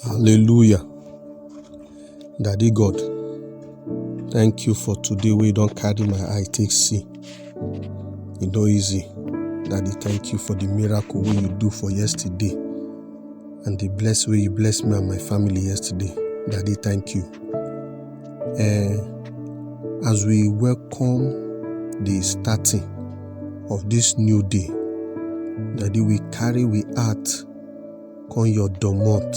Hallelujah. Daddy God, thank you for today wey you don carry my eye take see. E no easy. Daddy, thank you for the miracle wey you do for yesterday and the bless wey you bless me and my family yesterday. Daddy, thank you. Eh, as we welcome the starting of this new day, Daddy, we carry we heart come your domot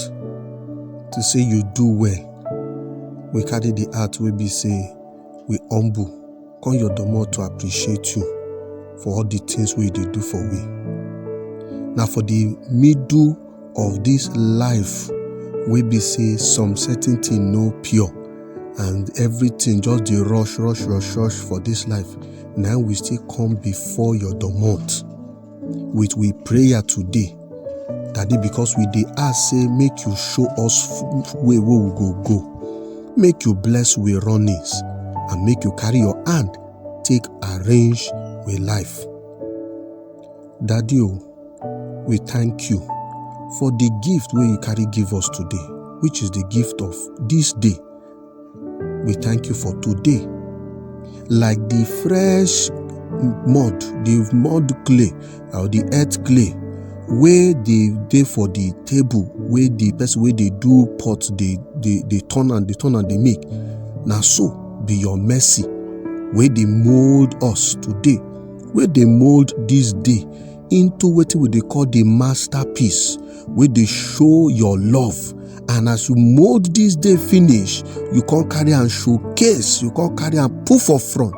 to say you do well we carry the heart wey be say we humble come your domot to appreciate you for all the things wey you dey do for we na for the middle of this life wey be say some certain thing no pure and everything just dey rush rush rush rush for this life na we still come before your domot with we prayer today daddy because we dey ask say make you show us f- way wey we go go make you bless we runnings and make you carry your hand take arrange we life daddy o we thank you for the gift wey you carry give us today which is the gift of this day We thank you for today. Like the fresh mud, the mud clay or the earth clay wey dey dey for the table wey the person wey dey do pot dey dey dey turn am dey turn am dey make na so be your mercy wey dey mold us today wey dey mold this day into wetin we dey call the masterpiece wey dey show your love and as you mold this day finish you come carry am showcase you come carry am put for front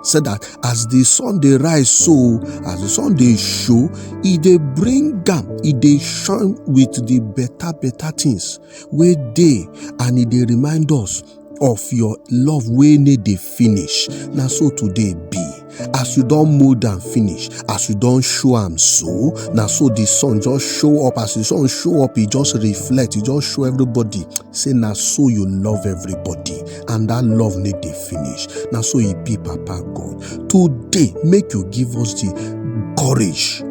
so that as the sun dey rise so as the sun dey show e dey bring am e dey shine with the better better things wey dey and e dey remind us of your love wey no dey finish na so today be as you don mold am finish as you don show am so na so the sun just show up as the sun show up e just reflect e just show everybody say na so you love everybody and that love no dey finish na so e be papa god today make you give us the courage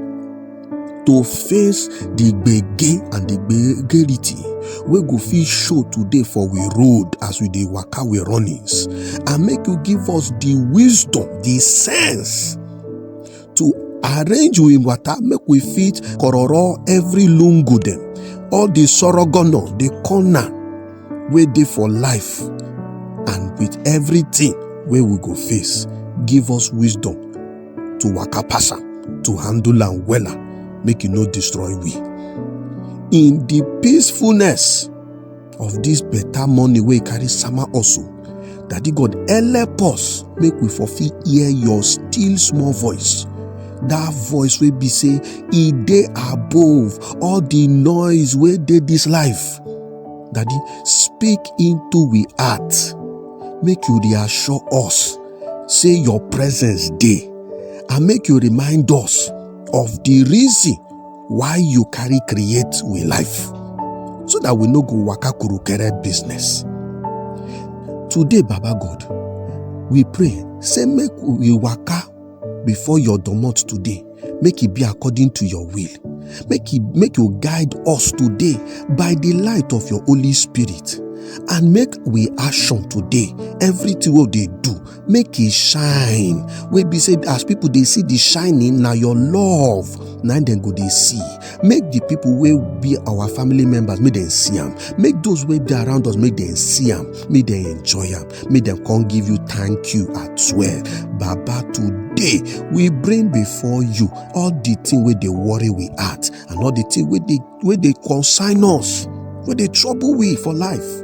to face the gbege and the gbegerity wey go fit show today for we road as we dey waka we runnings and make you give us the wisdom the sense to arrange we wata make we fit kororo every lungu dem all the sorogono the corner wey dey for life and with everything wey we go face give us wisdom to waka pass am to handle am wella make e no destroy we in the peacefulness of this better money wey carry sama also daddy god help us make we for fit hear your still small voice that voice wey be say e dey above all the noise wey dey this life daddy speak into we heart make you reassure us say your presence dey and make you remind us of the reason why you carry create we life so that we no go waka kurukere business today baba god we pray say make we waka before your domot today make e be according to your will make e make you guide us today by the light of your holy spirit and make we action today everything wey we dey do make e shine wey be say as people dey see the shining na your love na im dem go dey see make the people wey be our family members make dem see am make those wey dey around us make dem see am make dem enjoy am make dem come give you thank you at swear baba today we bring before you all the thing wey dey worry we heart and all the thing wey dey wey dey concern us wey dey trouble we for life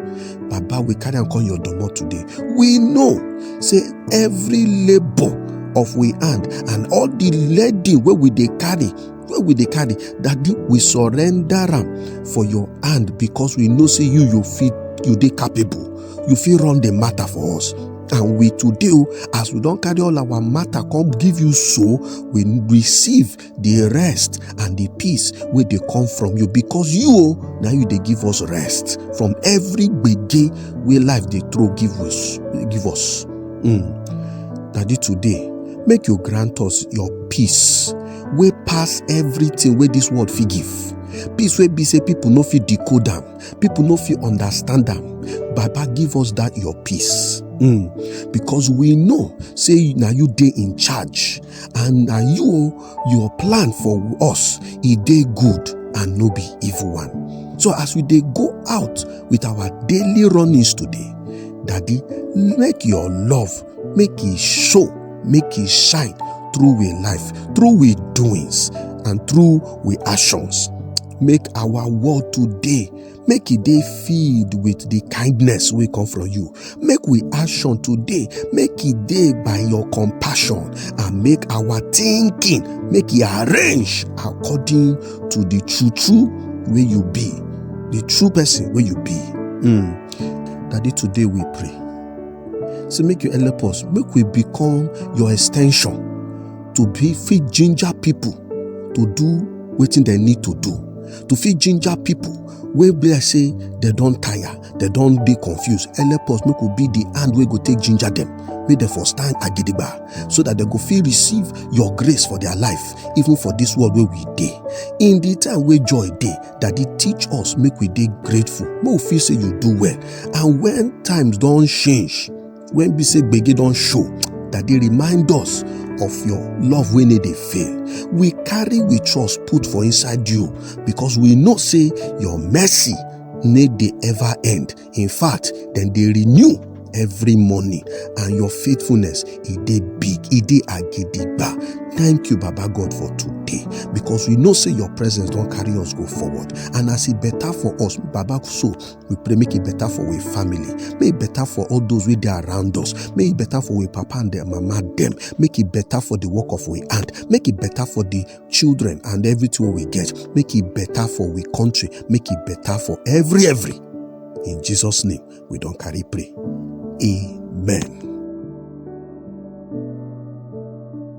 baba we carry am come your domot today we know say every labour of we hand and all the leading wey we dey carry wey we dey carry daddy we surrender am for your hand because we know say you you fit you dey capable you fit run the matter for us and we today o as we don carry all our matter come give you so we receive the rest and the peace wey dey come from you because you o na you dey give us rest from every gbege wey life dey throw give us give us mm. daddy today make you grant us your peace wey pass everything wey this world fit give peace wey be say people no fit decode am People no fit understand am. Baba give us that your peace. Mm. Because we know, say now you dey in charge, and now you your plan for us, e dey good and no be evil one. So as we dey go out with our daily runnings today, Daddy, make your love, make it show, make it shine through we life, through we doings, and through we actions. make our world today make e dey filled with the kindness wey come from you make we action today make e dey by your compassion and make our thinking make e arrange according to the true true wey you be the true person wey you be mm. daddy today we pray say make you help us make we become your extension to be fit ginger people to do wetin dem need to do to fit ginger people wey be like say dem don tire dem don dey confused help us make we be the hand wey go take ginger dem make dem for stand agidigba so that dem go fit receive your grace for their life even for this world wey we dey in the time wey joy dey daddy teach us make we dey grateful make we feel say you do well and when times don change when we say gbege don show that dey remind us of your love wey no dey fail we carry we trust put for inside you because we know say your mercy no dey ever end in fact dem dey renew every morning and your faithfulness e dey big e dey agidigba thank you baba god for today because we know say your presence don carry us go forward and as e better for us baba so We pray make it better for our family. Make it better for all those with there around us. Make it better for our papa and their mama them. Make it better for the work of our aunt. Make it better for the children and everything we get. Make it better for we country. Make it better for every every. In Jesus' name, we don't carry pray. Amen.